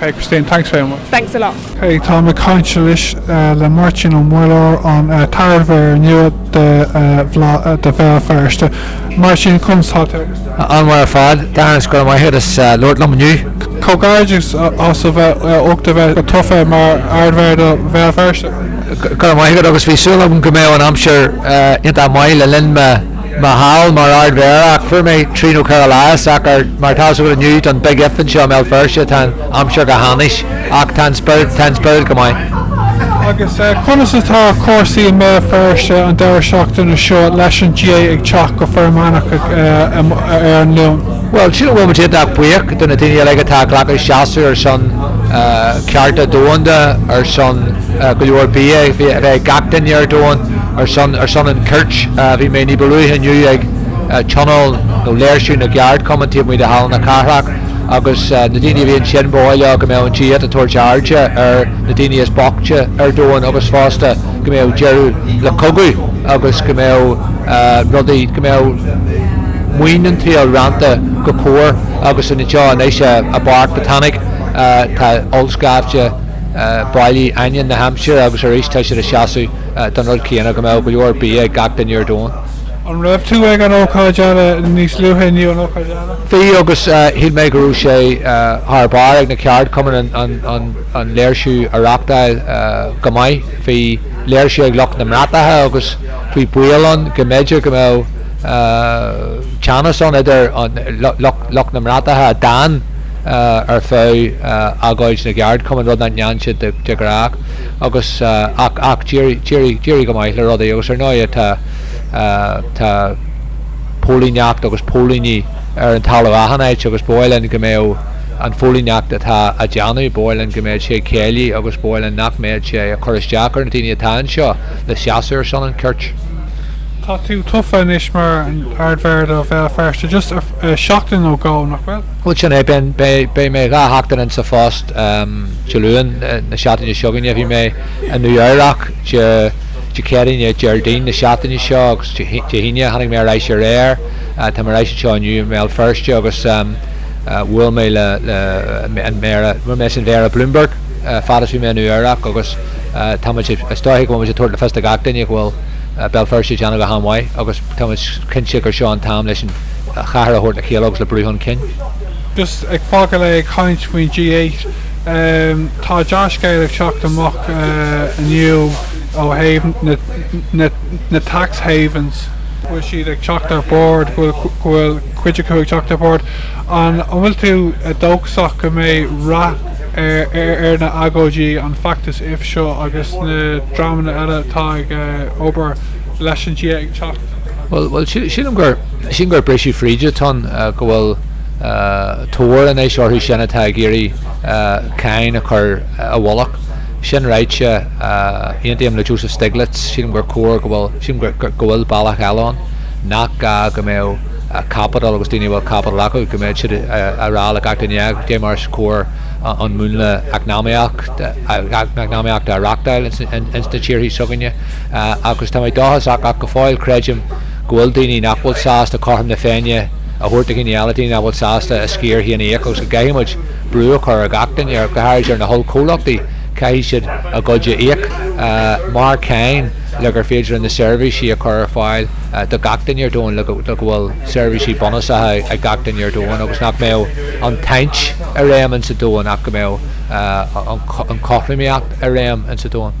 Hey Christine, thanks very much. Thanks a lot. Hey, táim ag caint anois le Máirtín Ó Muilleoir, an t-ardmhéara nua do Bhéal Feirste. Máirtín, conas tá tú? An-mhaith ar fad. Darren, is go raibh maith agat as labhairt liom inniu. Comhghairdeas as ucht a bheith tofa mar ardmhéara do Bhéal Feirste. Go raibh maith agat agus bhí súil agam go mbeadh an aimsir iontach maith le linn mo Mo sheal mar ardmhéara, ach fuair mé trí nó ceithre lá deas ach mar atá a fhios agat inniu don Big If anseo i mBéal Feirste tá an aimsir go hainnis ach tá an spiorad, tá an spiorad go maith. Agus conas atá cúrsaí i mBéal Feirste an deireadh seachtaine seo leis an G8 ag teacht go foirmeannach ar an Luan? Bhuel, sílim go bhfuil muid iontach buíoch do na daoine uilig atá ag glacadh seasaimh ar son cearta domhanda, ar son go leor bia a bheith ag gach duine ar domhan. Ar son, ar son an chirt, bhí mé ní ba luaithe inniu ag tionól nó léirsiú na gceardchumann taobh amuigh de Halla na Cathrach agus na daoine a bhí ansin, ba mhaith leo go mbeadh an G8 ag tabhairt airde ar na daoine is boichte ar domhan agus fosta go mbeadh deireadh le cogadh agus go mbeadh rudaí, go mbeadh maoin an tsaoil roinnte go cóir agus anseo anois i bPáirc Botanic tá ollscaifte bailithe ainneoin na haimsire agus arís tá siad ag seasamh. don rud céanna, go mbeadh go leor bia ag gach duine ar domhan. An raibh tú ag an ócáid eile níos luaithe inniu, an ócáid eile? Bhí agus shíl mé go raibh sé thar barr ag na ceardchumainn an léirsiú a reachtáil go maith. Bhí léirsiú ag lucht na mbratacha agus bhí baol ann go mb'fhéidir go mbeadh teannas ann idir lucht na mbratacha a d'fhan ar feadh agóid na gceardchumann, rud nach ndearna siad de ghnáth. Agus, ach, ach d'éirigh, d'éirigh, d'éirigh go maith le rudaí agus ar ndóighe tá, tá póilíneacht agus póilíní ar an talamh achan áit agus ba mhaith linn go mbeadh an phóilíneacht atá á déanamh, ba mhaith linn go mbeadh sé ciallmhar agus ba mhaith linn nach mbeadh sé ag cur isteach ar na daoine atá anseo le seasamh ar son an chirt. Tá tú tofa anois mar an Ardmhéara do Bhéal Feirste just seachtain nó dhó, nach bhfuil? Bhuel, sin é. Beidh mé dhá sheachtain insa phost. Dé Luain na seachtaine seo chugainn bhí mé i Nua Eabhrach, Dé Céadaoin, Dé Déardaoin na seachtaine seo agus Dé hAoine tháinig mé ar ais aréir. Tá mé ar ais anseo inniu i mBéal Feirste agus bhuail mé le an Méara, bhuail mé leis an Mhéara Bloomberg fad is bhí mé i Nua Eabhrach agus táimid, is dóiche go bhfuilimid ag tabhairt le fios do gach duine go bhfuil Béal Feirste ag déanamh go han-mhaith agus táimid cinnte gur seo an t-am leis an a chathair a thabhairt le chéile agus le brú chun cinn. Just ag fágail é ag caint faoin G8. Tá dea-scéal ag teacht amach inniu ó thaobh na tax havens. bhfuil siad ag teacht ar bord, go bhfuil cuid acu ag teacht ar bord. An bhfuil tú dóchasach go mbeidh rath ar na agóidí, an feachtas IF seo agus na dreamanna eile atá ag obair leis an G8 ag teacht? Bhuel, bhuel, sílim gur, sílim gur briseadh fríd atá ann, go bhfuil tóir anois orthu sin atá ag iarraidh cáin a chur i bhfolach. Sin ráite, aontaím le Joseph Stiglitz, sílim gur cóir go bhfuil, sílim gur, gur, go bhfuil bealach eile ann, nach gá go mbeadh caipiteal agus daoine a bhfuil caipiteal acu, go mbeidh siad a' rá le gach duine, caidé mar is cóir an múnla eacnamaíocht, eacnamaíochta a reachtáil ins na tíorthaí s'againne. Agus tá mé dóchasach, ach go fóill creidim go bhfuil daoine nach bhfuil sásta cothrom na Féinne a thabhairt do dhaoine eile, daoine nach bhfuil sásta a sciar féin a íoc agus go gcaithfimid brú a chur ar gach duine, go háirid ar na hollchomhluchtaí, caithfidh siad a gcuid a íoc mar cáin le gur féidir linn na seirbhísí a chur ar fáil do gach duine ar domhan, le go bhfuil seirbhísí bunúsacha ag gach duine ar domhan agus nach mbeadh an tsaint i réim insa domhan ach go mbeadh an chothromaíocht i réim insa domhan.